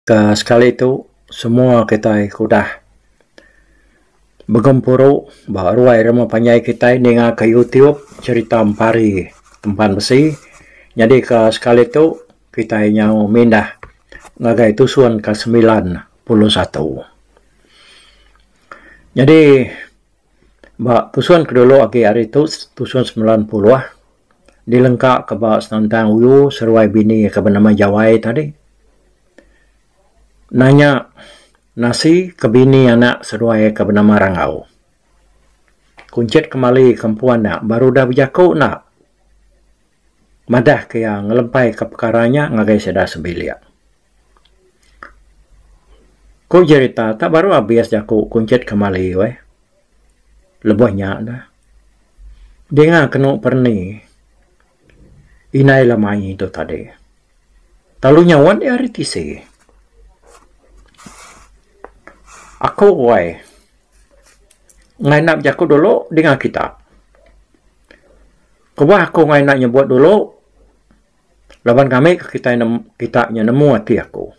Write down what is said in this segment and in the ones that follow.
Ka sekali tu semua kitai ke udah begempuru ba ruai rumah panjai kitai ninga ka YouTube cherita Empari Tempan Besi nyadi ka sekali tu kitai nyau mindah ngagai tusun ka semilan puluh satu. Nyadi. Ba pusun ke dulu agi ari tu pusun semilan puluh dilengka ka ba senentang uyu seruai bini iya ke benama Jawai tadi nanya nasi ke bini anak seduai iya ke benama Rangau. Kunchit kemali ka empu anak baru udah bejaku enda madah ka iya ngelempai ka pekara nya ngagai sida sebilik. Ku jerita tak baru abis jaku kunchit kemali weh. Lebuh nya neh dinga kenu perni indai le mayie tu tadi. Telu nyauan dia ari tisi. Aku weh ngai enda bejaku dulu dinga kita. Kubah aku ngai enda nyebut dulu. Laban kami ke kitai ne kita nya nemu ati aku.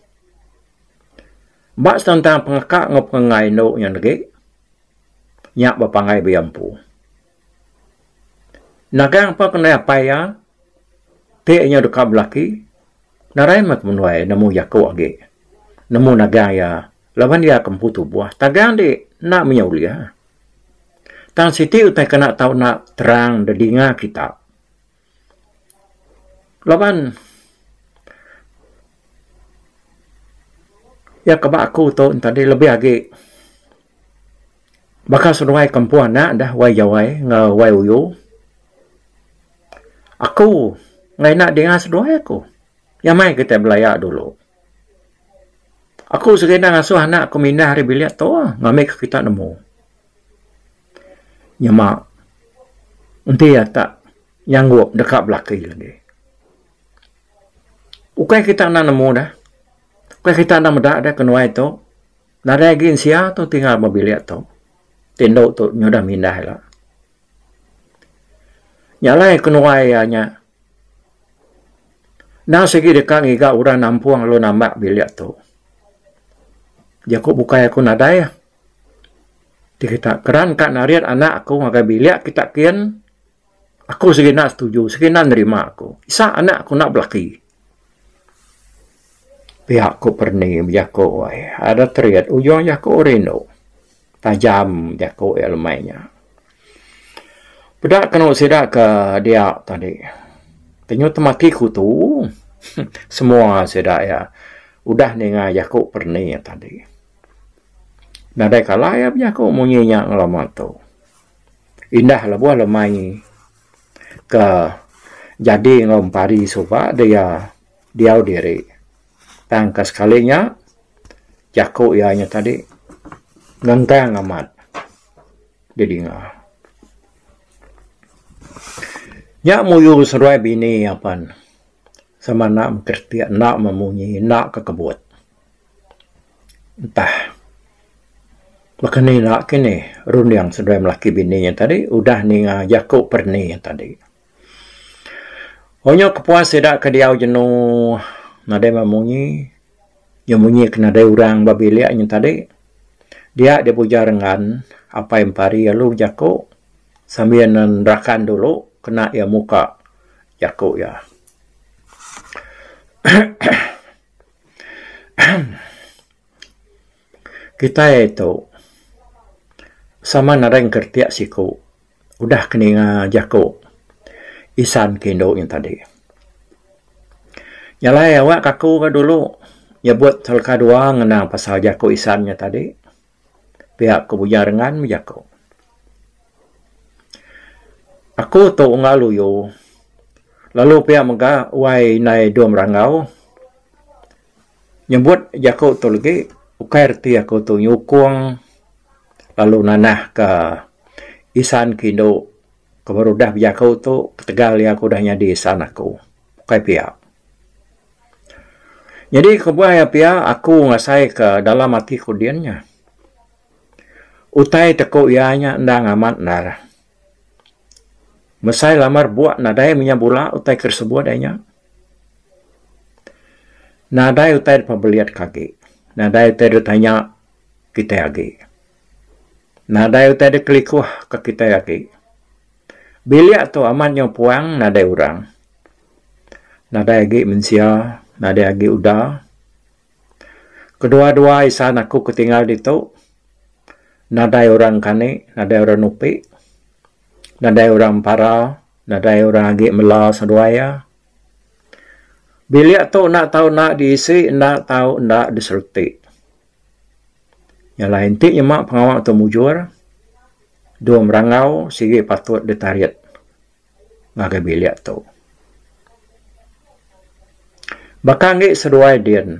Ba setentang pengeka enggau pengenggai indu nya negi, nya bepanggai bia empu. Nagang pun ke nadai apai iya, ti nya deka belaki, nadai meh kemenuai nemu jaku agi nemu nagang iya laban iya ke empu tubuh. Tagang di enda meh iya ulih. Tang siti utai ke enda tau enda terang didinga kita. Laban iya ke ba aku tu tadi lebih agi baka seduai kampung anak dah Wai Jawai enggau Wai Uyu. Aku enggau ina dinga seduai aku iya meh kitai belaya dulu. Aku serindah ngasuh anak aku mindah ari bilik tu ngambika kita nemu nyema enti iya tak nyanggup deka belaki lagi. Ukai kita enda nemu deh. Ukai kita enda meda deh kenuai tu. Nadai agi sia tu tinggal ba bilik tu ti enda nyudah mindah ila. Nya alai kenuai iya nya. Endang sigi deka ngiga orang nampung lalu namba bilik tu. Jaku bukai aku nadai ti kita keran ka narit anak aku ngagai bilik kita kin aku segina setuju segina nerima aku. Isa anak aku enda belaki. Pia ku perni bejaku ai. Ada terit ujung jaku rindu. Tajam jaku iya lemai nya. Peda kenu sida ke dia tadi. Tenyuh temaki kutu. Semua sida iya udah ninga jaku perni tadi. Nadai kala iya bejaku munyi nya ngelama tu. Indah lebuh lemai ke jadi enggau empari suba dia diau diri. Tang ka sekali nya jaku iya nya tadi nentang amat didinga. Nya muyuh seduai bini iya pan sama enda mekereti enda memunyi enda ke kebut. Entah baka ni enda kinih runding seduai melaki bini nya tadi udah ninga jaku perni nya tadi. Onyo kepuas sida ke diau jenu nadai meh munyi, iya munyi ke nadai orang ba bilik nyen tadi. Dia deh bujar engan apai empari lalu bejaku sambil ne nerakan dulu kena iya muka jaku iya. Kitai tu sama nadai ngeretik siku udah ke ninga jaku isan ke indu nya tadi. Nya alai awakka aku dulu nyebut teleka dua ngena pasal jaku isan nya tadi pia ku Bujang Rengan meh jaku. Aku tu unggal uyu lalu pia mega wai indai dua merangau. Nyebut jaku tu legi ukai reti aku tu nyukung lalu nanah ka isan ke indu ke baru udah bejaku tu ketegal iya ke udah nyadi isan aku ukai pia. Nyadi kebuah iya pia aku ngasai ka dalam ati ku din nya utai te ku iya nya endang amat endar. Mesai lamar bua nadai menya bula utai ke sebut ai nya. Nadai utai dep belit ke agi. Nadai utai dep tanya kitai agi. Nadai utai dep kelikuh ke kitai agi. Bilik tu amat nyau puang nadai orang. Nadai agi mensia, nadai agi uda. Kedua-dua isan aku ke tinggal ditu nadai orang kani nadai orang nupi nadai orang pempara nadai orang agi mela seduai iya. Bilik tu enda tau enda diisi enda tau enda disereti. Yalah enti nyema pengawa tu mujur dua merangau sigi patut ditarit. ngagai bilik tu. Baka agi seduai din,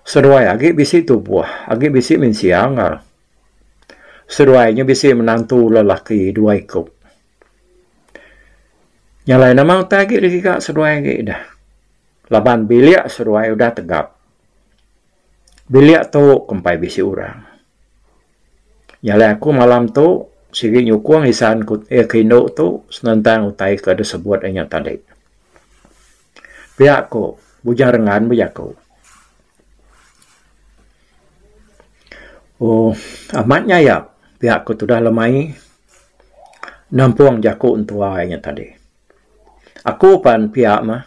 seduai agi bisi tubuh, agi bisi mensia ga. Seduai nya bisi menantu lelaki dua iku. Nya alai nama utai agi digiga seduai agi dah. Laban bilik seduai udah tegap. Bilik tu kumpai bisi orang. Nyalai aku malam tu sigi nyukung isan ku eh ke indu tu senentang utai ke deh sebut inya tadi. Pia ku Bujang Rengan meh jaku. Ooh amat nyayap pia ku tudah le mai nampung jaku entua inya tadi. Aku pan pia meh.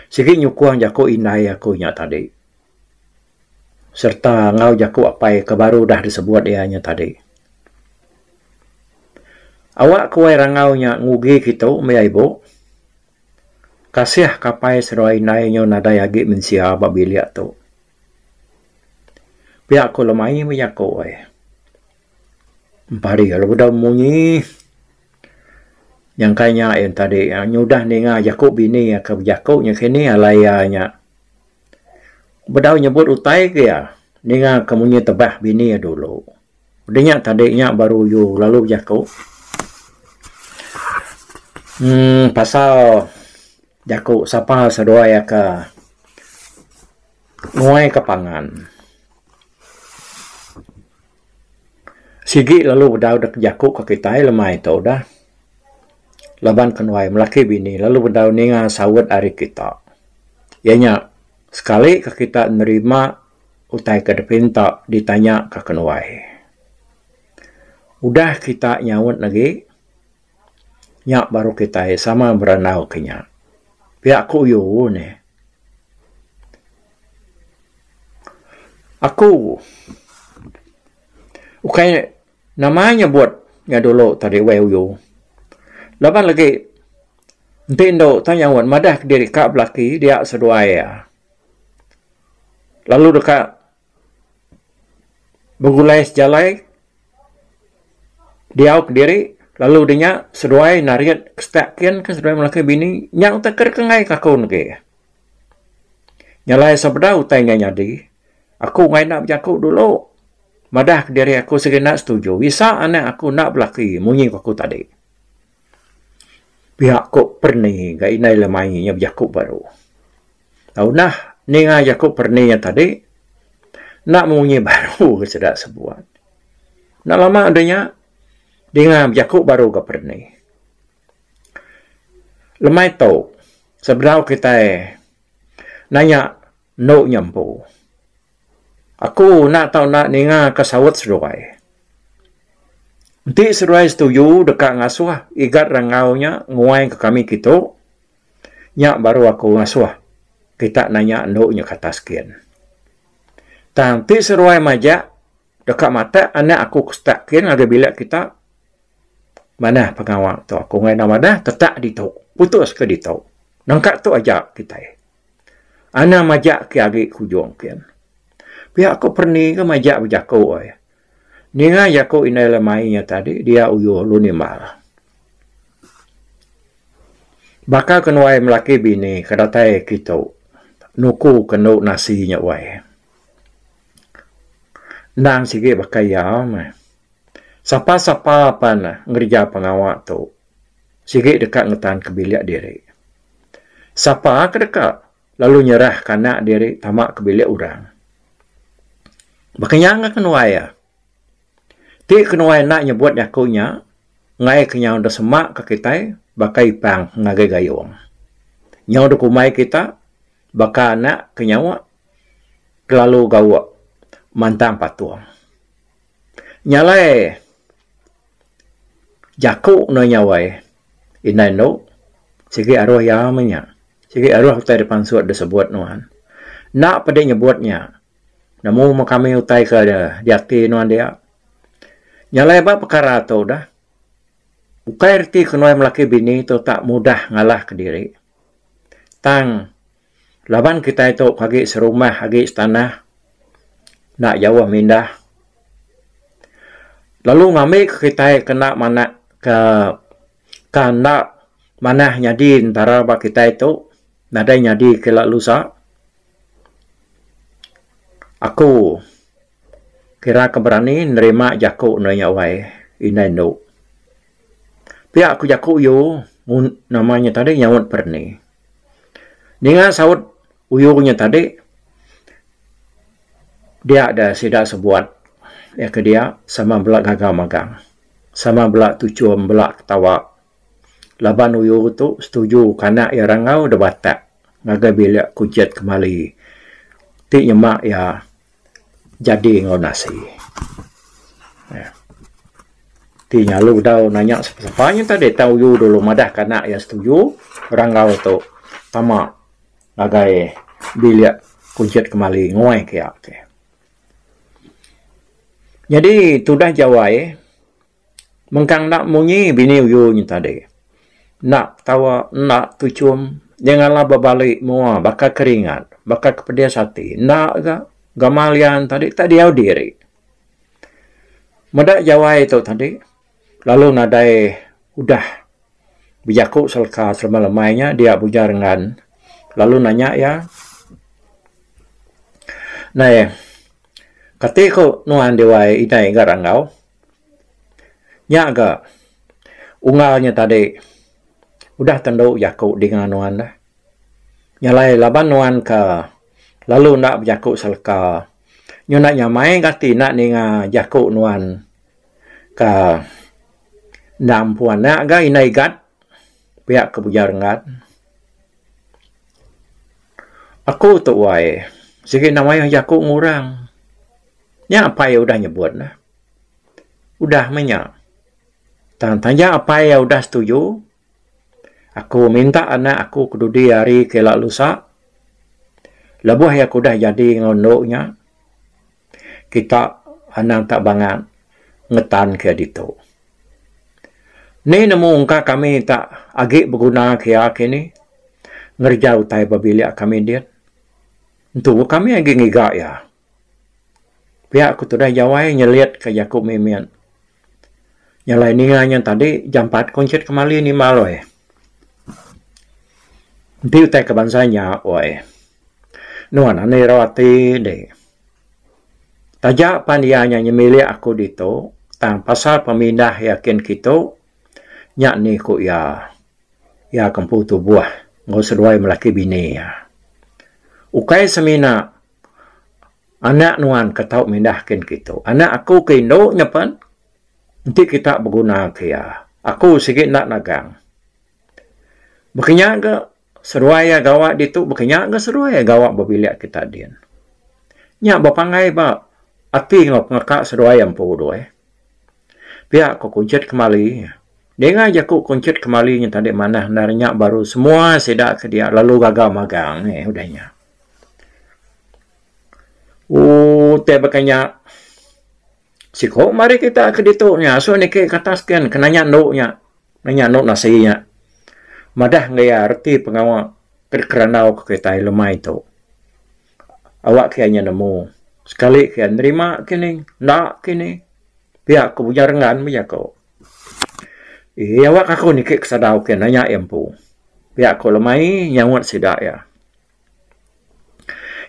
Sigi nyukung jaku indai aku nya tadi sereta enggau jaku apai ke baru udah disebut iya nya tadi. Awak ke wai rangau nya ngugi kitu meh iya ibu. Kasih ke apai serua indai nyu nadai agi mensia ba bilik tu. Pia ku lemai meh jaku ai. Empari lalu udah munyi. Nyangkai nya ain tadi nyudah ninga jaku bini iya ke bejaku nya kini alai iya nya bedau nyebut utai ke iya ninga ke munyi tebah bini iya dulu. Udah nya tadi nya baru yu lalu bejaku uhh pasal jaku sapa seduai iya ke Nguaika pangan. Sigi lalu bedau dek jaku ke kitai lemai tu dah. Laban ke nuai melaki bini lalu bedau ninga saut ari kita. Iya nya sekali ke kita nerima utai ke dipinta ditanya ka ke nuai. Udah kita nyaut agi. Nya baru kitai sama berandau ke nya. Pia ku Uyu nih. Aku ukai nama nyebut nya dulu tadi uih Uyu. Laban lagi enti endo tau nyauan madah diri ka belaki dia seduai iya. Lalu deka. begulai sejalai diau kediri lalu nya nya seduai narit ke setak kin ke seduai melaki bini nya utai ke dikegai ke aku negi nyalai sebedau utai nya nyadi aku ngai enda bejaku dulu madah kediri aku segina setuju bisa anak aku enda belaki munyi ku aku tadi pia ku perni ga inai lemai nya bejaku baru. Tau nah ninga jaku perni iya tadi enda munyi baru ke sida sebuat. Enda lama deh nya dinga bejaku baru ga perni. Lemai tu sebedau kitai nanya enu nya empu. Aku enda tau enda ninga ka saut seduai. Enti seduai setuju deka ngasuh igat rangau nya nguai ka kami kitu. Nya baru aku ngasuh kita nanya endu nya ke atas gin. Tang ti seruai majak deka matak anak aku ke setak gin ngagai bilik kita manah pengawa tu aku ngena madah tetak ditu putus ke ditu nengka tu aja kitai anang majak ke agi ke ujung gin. Pia aku perni ke majak bejaku ai Ninga jaku indai le mai nya tadi dia uyuh lu nimbal. Baka ke nuai melaki bini ke datai kitu nuku ke endo nasi nya wai. Endang sigi baka iya meh. Sapa sapa pan ngereja pengawa tu sigi deka ngetanka bilik diri. Sapa ke deka. lalu nyerah ka anak diri tama ke bilik orang. Baka nya enggau kenuai iya. Ti kenuai enda nyebut jaku nya enggai ke nyau deh sema ka kitai baka ipang ngagai gayung. Nyau deh kumbai kita baka anak ke nyawa kelalu gauk mantang patung. Nya alai. Jaku ndai nyawai indai endo sigi aruh iya meh nya sigi aruh utai da pansut da sebut nuan enda pedi nyebut nya nemu meh kami utai ke diati nuan dia nyalai ba pekara tu dah ukai reti kenuan melaki bini tu tak mudah ngalah ke diri tang. Laban kitai tu agi serumah agi setanah enda jauh mindah lalu ngambika kitai kena manah ke ka enda manah nyadi entara ba kitai tu nadai nyadi kela lusa aku kira ke berani nerima jaku nuan nya wai indai endu pia ku jaku u nama nya tadi nyaut berani. Ninga saut uyung nya tadi dia deh sida sebuat iya ke dia sama bela gaga magang sama bela tuchum bela ketawa laban uyung tu setuju ke anak iya rangau deh batak ngagai bilik kujit kemali ti nyema iya Jadi enggau nasi. Nya. Ti nyau dau nanya sapa sapa nya tadi tang uyu dulu madah ka anak iya setuju ra enggau tu tama ngagai bilik kunchit kemali nguai ka iya. Jadi tudah jawai Mengkang enda munyi bini uyu nyi tadi. Enda petawa, enda tuchum, nya ngalah ba bali mua baka ke ringat, baka ke pedis ati. Enda ga, gamal iya tadi enda diau diri. Meda jawai tu tadi lalu nadai udah bejaku seleka selama lemai nya dia bujar ngan lalu nanya iya, Nai, kati ku nuan diwai indai ga rangau? Nya ga ungar nya tadi udah tentu jaku dinga nuan dah. Nya alai laban nuan ke lalu enda bejaku seleka nyu enda nyamai ga ati enda ninga jaku nuan ke enda empu anak ga indai gat pia ke bujar ngan. Aku tuai sigi enda mayuh jaku ngurang. Nya apai iya udah nyebut ne. Udah meh nya. Tang taja apai iya udah setuju, aku minta anak aku ke dudi hari ke ila lusa lebuh iya ke udah jadi enggau endu nya kita anang tak bangat ngetan ke iya ditu. Ni nemu engka kami tak agi beguna ke iya kini ngereja utai ba bilik kami din. Entu kami agi ngiga iya. Pia ku tudah Jawai nyelit ka jaku Mimin. Nyelai ninga nya tadi jampat ku encit kemali ni Mal oi. Enti utai ka bansa nya oi. Nuan andu ira ati indi. Taja pan iya nya nyemilik aku ditu tang pasal pemindah iya kin kitu nya ni ku iya. Iya ke empu tubuh enggau seduai melaki bini iya. Ukai semina. Anak nuan ke tau mindah kin kitu. Anak aku ke indu nya pen enti kita beguna ke iya. Aku sigi enda nagang. Baka nya ga seduai iya gawa ditu baka nya ga seduai iya gawa ba bilik kita din. Nya ba pangai ba ati enggau pengaka seduai iya empu doi. Pia ku kunchit kemali. Dinga jaku kunchit kemali nya tadi manah enda nya baru semua sida ke dia lalu gaga magang meh udah nya. Ooh tai baka nya siko mari kita ke ditu nya asu niki ke atas ken kena nya endu nya kena nya endu nasi nya madah enggau iya reti pengawa kerandau ke kitai lemai tu awak kiai nya nemu sekali kiai nerima kini enda kini pia ku Bujang Renggan meh jaku ee awak aku niki ke sadau ke nanya iya empu pia ku lemai nyaut sida iya.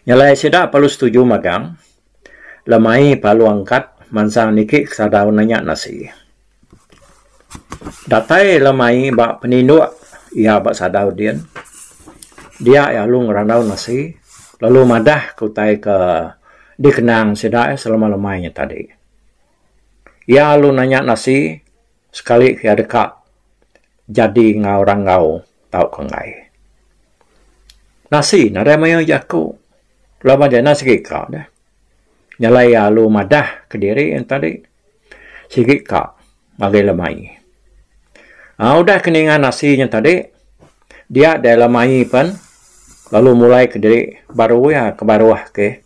Nya alai sida perlu setuju magang lemai palu angkat mansang niki kesada udah nya nasi. Datai lemai ba peninduk iya ba sada udin dia iya lalu ngerandau nasi lalu madah ke utai ke dikenang sida selemai-lemai nya tadi. Iya lalu nanya nasi sekali ke iya deka. Jadi enggau orang enggau tauka enggai. Nasi ne ari mayuh jaku laban ja enda sigi ka deh. Nyelai lalu madah kediri tadi sigi ka ngagai lemai. Aaa udah ke ninga nasi nya tadi dia deh lemai pen lalu mulai kediri baru iya ke baruh ke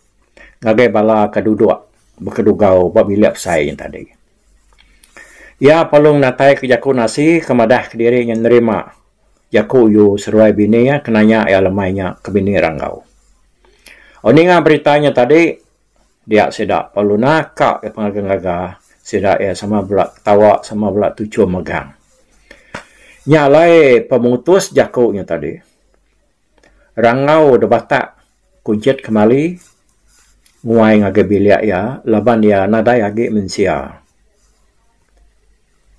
ngagai bala ke duduk bekedugau ba bilik besai nya tadi. Iya pelung natai ke jaku nasi ke madah ke diri nya nerima jaku u seruai bini iya ke nanya iya lemai nya ke bini ranggau. Au ninga berita nya tadi dia sida perlu naka iya pengaga ngaga sida iya sama bela ketawa sama bela tuchum megang. Nya alai pemutus jaku nya tadi. Rangau da batak kujit kemali nguai ngagai bilik iya laban iya nadai agi mensia.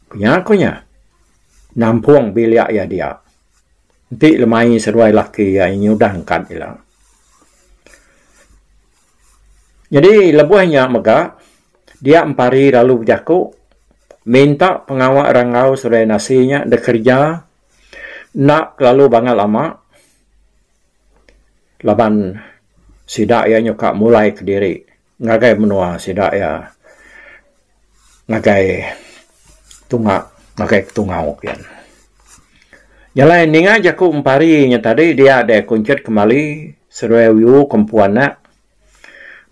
Kunya ku nya nampung bilik iya dia. Enti lemai seduai laki iya nyudah angkat ila. Nyadi lebuh nya mega dia empari lalu bejaku minta pengawa rangau seduai nasi nya dikereja Enda kelalu bangat lama laban sida iya nyuka mulai kediri ngagai menua sida iya ngagai tunga ngagai ketungau kian. Jalai ninga jaku empari nya tadi dia deh aku nchit kemali seduai uyu ke empu anak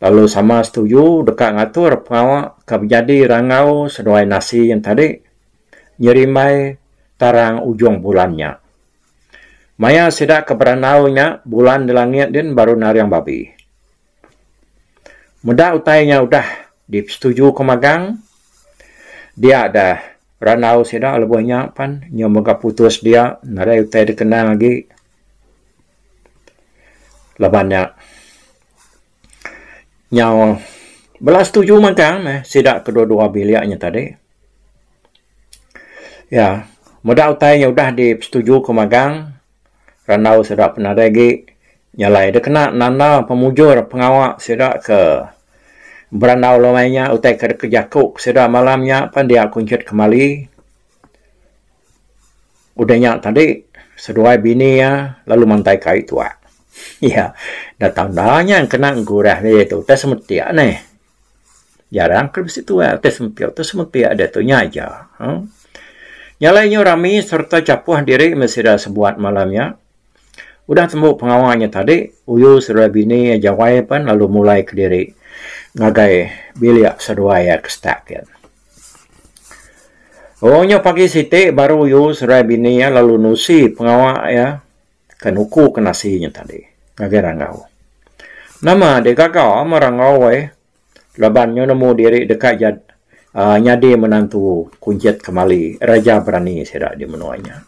lalu sama setuju deka ngatur pengawa ke bejadi rangau seduai nasi nya tadi. nyerimbai tarang ujung bulan nya. Maya sida ke berandau nya, bulan di langit din baru naring babi. Meda utai nya udah dipesetujuka magang, dia deh randau sida lebuh nya pan nyau mega putus dia nadai utai dikenang agi laban nya. Nyau bela setuju mega meh sida kedua-dua bilik nya tadi. Iya, meda utai nya udah dipesetujuka magang randau sida penadai agi nya alai deh kena nanda pemujur pengawa sida ke berandau lumai nya utai ke deka jaku sida malam nya pan dia kunchit kemali. Udah nya tadi, seduai bini iya lalu mantaika ari tuak. Iya enda tau enda nya kena gurah diri tu utai semetik neh. Jarang ke bisi tuak utai semetik, utai semetik deh tu nya aja. Huh. Nya alai nyu rami sereta chapuh diri meh sida sebuat malam nya. Udah tembu pengawa nya tadi, uyu seduai bini iya jawai pen lalu mulai kediri ngagai bilik seduai iya ke stak gin. Orang nyau pagi siti baru yu serai bini iya lalu nusi pengawa iya ke nuku ke nasi nya tadi ngagai rangau. Nama deh gaga meh rangau ai laban nyau nemu diri deka jadi aaa nyadi menantu kunchit kemali Raja Berani sida di menua nya.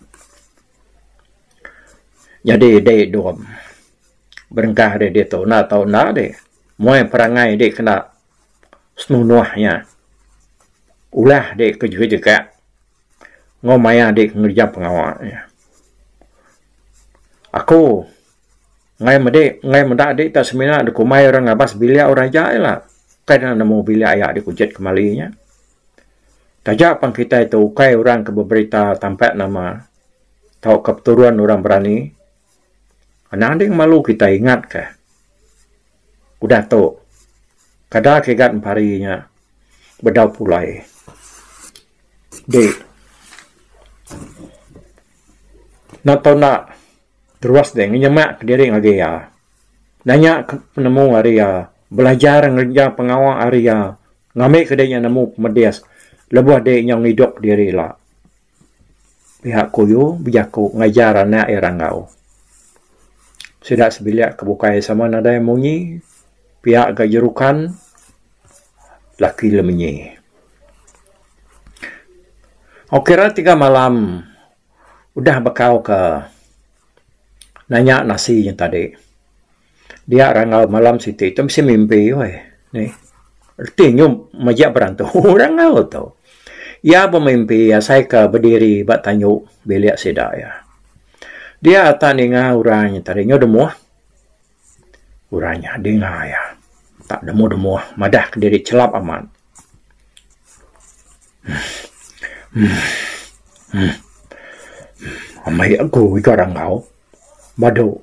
Jadi dei dom berengkah deh ditu enda tau enda deh moh ai perangai dei kena Senunuh nya, ulah dek ke jegejega enggau maya dek ke ngereja pengawa nya. Aku enggau iya mede, enggau meda ade ita semina dikumbai orang ngabas bilik orang ija ila. Ukai ena nemu bilik aya dikujit kemali nya. Taja pen kitai tu ukai orang ke beberita tampat nama tauka peturun orang berani. Nading malu kitai ingatka udah tu kada kigat empari nya bedau pulai di enda tau enda terus deh ngenyema kediri ngagai iya nanya ke penemu ari iya belajar ngereja pengawa ari iya ngambika diri iya nemu pemedis lebuh diri iya ngidup diri ila. Pihak Kuyu bejaku ngajar anak iya ranggau. Sida sebilik ke bukai sama nadai munyi pihak ga jerukan laki lemenyi. Au kira tiga malam udah bekau ke nanya nasi nya tadi. Dia rangau malam siti tu mesti mimpi weh. Nih. Reti nyu majak berantu rangau tu. Iya bemimpi asai ke bediri ba tanyu bilik sida iya. Dia atak ninga orang nya tadi nyu demuh. Orang nya dinga iya. Tak demuh demuh madah ke diri chelap amat. Amai aku iko rangau. Madu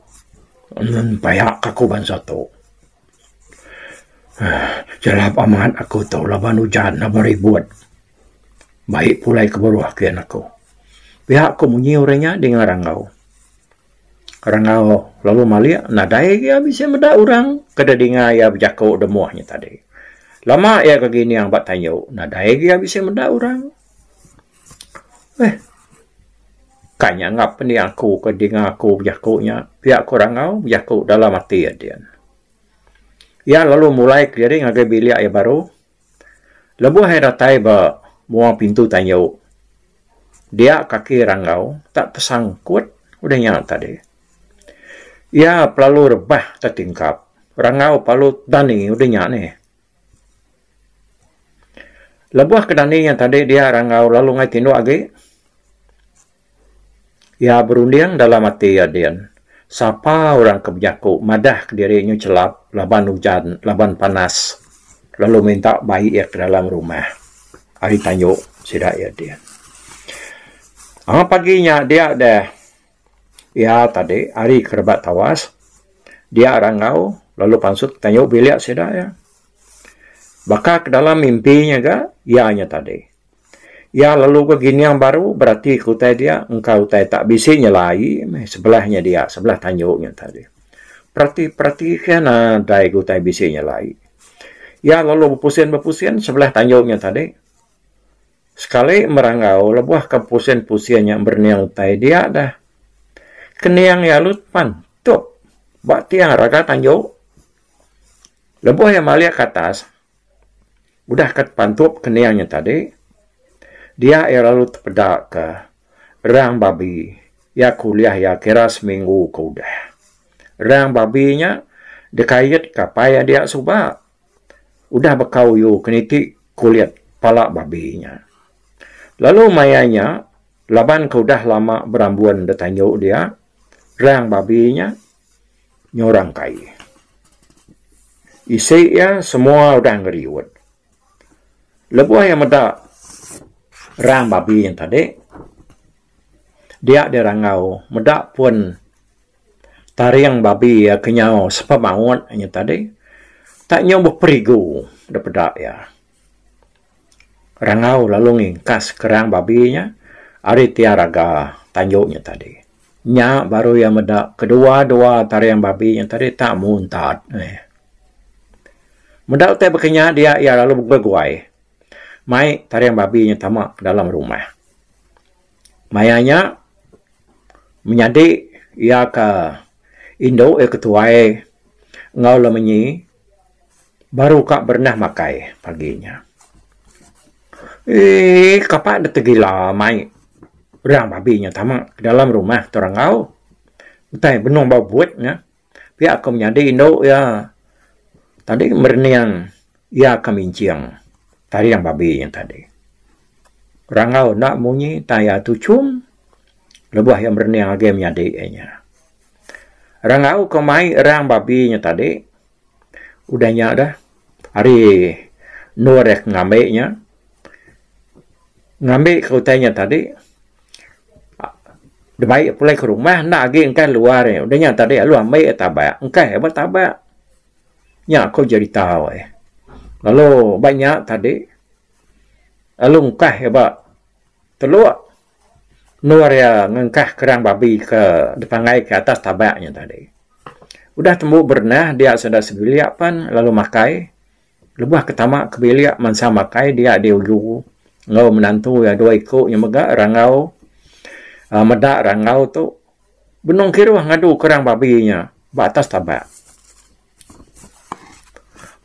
ngun paya ka aku bansa tu. Jalap amat aku tu laban ujan laban ribut. Baik pulai ke beruh ke anak aku. Pia ku munyi orang nya dinga rangau. Rangau lalu malik nadai gia bisi meda orang ke da dinga iya bejaku da moh nya tadi. Lama iya ke gining ba tanyu nadai gia bisi meda orang. Eeh. Kai nya ngap indi aku ke dinga aku bejaku nya. Pia ku Rangau bejaku dalam ati iya din. Iya lalu mulai keliling ngagai bilik iya baru. Lebuh iya datai ba mua pintu tanyu, dia kaki Rangau tak tesangkut udah nya tadi. Iya pelalu rebah tetingkap. Rangau pelalu tedani udah nya nih. Lebuh ke dani iya tadi dia ra enggau lalu ngai tindu agi, iya berunding dalam ati iya din, sapa orang ke bejaku madah ke diri nyu chelap laban ujan laban panas lalu minta bai iya ke dalam rumah. Ari tanju sida iya din. Amat pagi nya dia deh Iya tadi ari ke rebak tawas dia rangau lalu pansut kayu bilik sida iya. Baka ke dalam mimpi nya ga iya nya tadi. Iya lalu ga gining baru berati ke utai dia engka utai tak bisi nyela aie meh sebelah nya dia sebelah tanju nya tadi. Perati perati ke nadai ga utai bisi nyela aie. Iya lalu bepusin bepusin sebelah tanju nya tadi. Sekali merangau lebuh ke pusin-pusin nya berening utai dia dah. Kening iya lut pan tup ba tiang raga tanju. Lebuh iya malik ke atas udah ke depan tup kening nya tadi dia iya lalu tepeda ke rang babi iya ke ulih iya kira seminggu ke udah. Rang babi nya dikait ke apai iya dia suba. Udah baka uyu keniti kulit pala babi nya. Lalu maya nya laban ke udah lama berambun da tanju dia, rang babi nya nyurang kai. Isi iya semua udah ngeriut. Lebuh iya meda rang babi nya tadi, dia dirangau meda pun. Taring babi iya ke nyau sepa maut inya tadi tak nyau beperigu da peda iya. Rangau lalu ngingkas kerang babi inya ari tia raga tanju inya tadi. Nya baru iya meda kedua-dua taring babi inya tadi tak muntat meh. Meda utai baka nya dia iya lalu begui-gui mai taring babi inya tama dalam rumah. Maya nya menyadi iya ke indu iya ke tuai enggau lem enyi baru ka berenah makai pagi nya. Eeii kapa dep tegila mai orang babi nya tama dalam rumah tu orang enggau. Utai benung bau but nya. Pia ko menyadi indu iya tadi merening iya ka minching taring babi nya tadi. Rangau enda munyi tan iya tuchum lebuh iya merening agi menyadi inya. Rangau ko mai erang babi nya tadi udah nya deh ari endur iya ke ngambi nya. Ngambika utai nya tadi dibai pulai ke rumah enda agi engkah luar nya. Udah nya tadi lalu ambi iya tabak engkah iya ba tabak. Nya ko jerita weh. Lalu ba nya tadi lalu engkah iya ba telok endur iya ngengkah kerang babi ke dipanggai ke atas tabak nya tadi. Udah tembu berenah dia sida sebilik pan lalu makai. Lebuh ke tama ke bilik mansa makai dia di uju enggau menantu iya dua iku nya mega rangau uhh meda rangau tu benung kiruh ngadu ke orang babi nya ba atas tabak.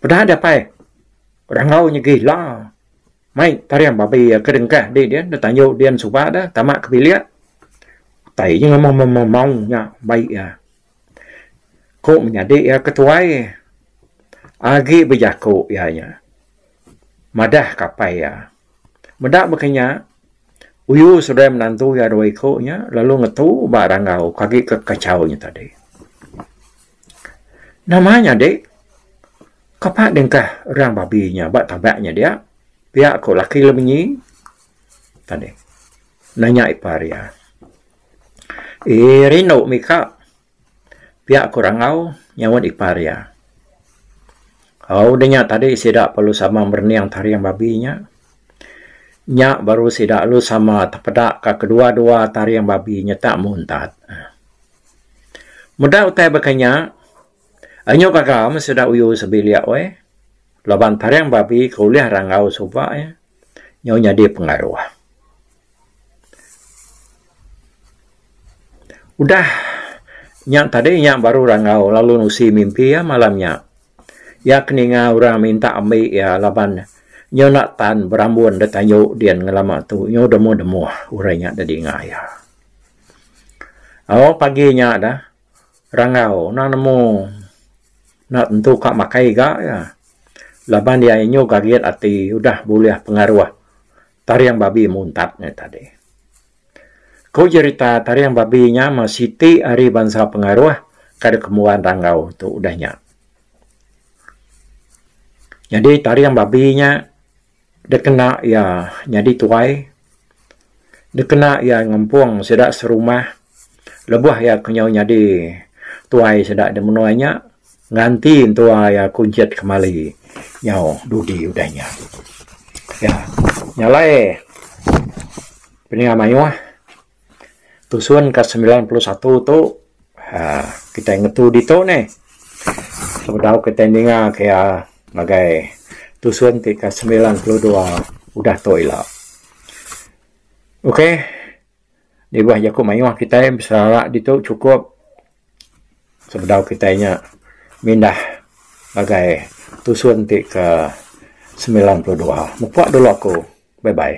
Peda dapai rangau nya gila mai tarim babi iya ke dengkah di dia deh tanju dia suba deh tama ke bilik utai nya memau memau nya baik iya. Ku menyadi iya ke tuai agi bejaku iya nya madah kapai iya. Meda baka nya uyu saudara menantu iya dua iku nya lalu ngetu ba rangau ke agi ke kachau nya tadi. Nama nyadi kapa dengkah orang babi nya ba tabak nya dia pia ku laki lemenyi tadi nanya ipar iya. Iya rindu mika pia ku rangau nyaunt ipar iya. Au udah nya tadi sida perlu sama merening taring babi nya. Nya baru sida lalu sama tepeda ka kedua-dua taring babi nya tak muntat. Meda utai baka nya anyu gaga meh sida uyu sebilik weh laban taring babi ke ulih rangau suba iya. nyau nyadi pengaruh. Udah nya tadi nya baru rangau lalu nusi mimpi iya malam nya. Iya ke ninga orang minta ambi iya laban nyau enda tan berambun da tayu din ngelama tu nyau demuh-demuh orang nya da dinga iya. Au pagi nya dah. rangau nang nemu enda tentu ka makai ga iya laban iya inyuh gagit ati udah bulih pengaruh taring babi muntat nya tadi. Ku jerita taring babi nya meh siti ari bansa pengaruh ka dep kembuan rangau tu udah nya. Nyadi taring babi nya. Dikena iya nyadi tuai, dikena iya ngempung sida serumah lebuh iya ke nyau nyadi tuai sida di menua nya nganti entua iya kunchit kemali nyau dudi udah nya. Nya alai pinia mayuh. Tusun ka semilan puluh satu tu uhh kitai ngetu ditu ne sebedau kitai ninga kaya ngagai tusun ti ka semilan puluh dua udah tu ila. Okay nibah jaku mayuh kitai biserara ditu chukup sebedau kitai nya mindah ngagai tusun ti ka semilan puluh dua. Mupok dulu aku. Bye bye.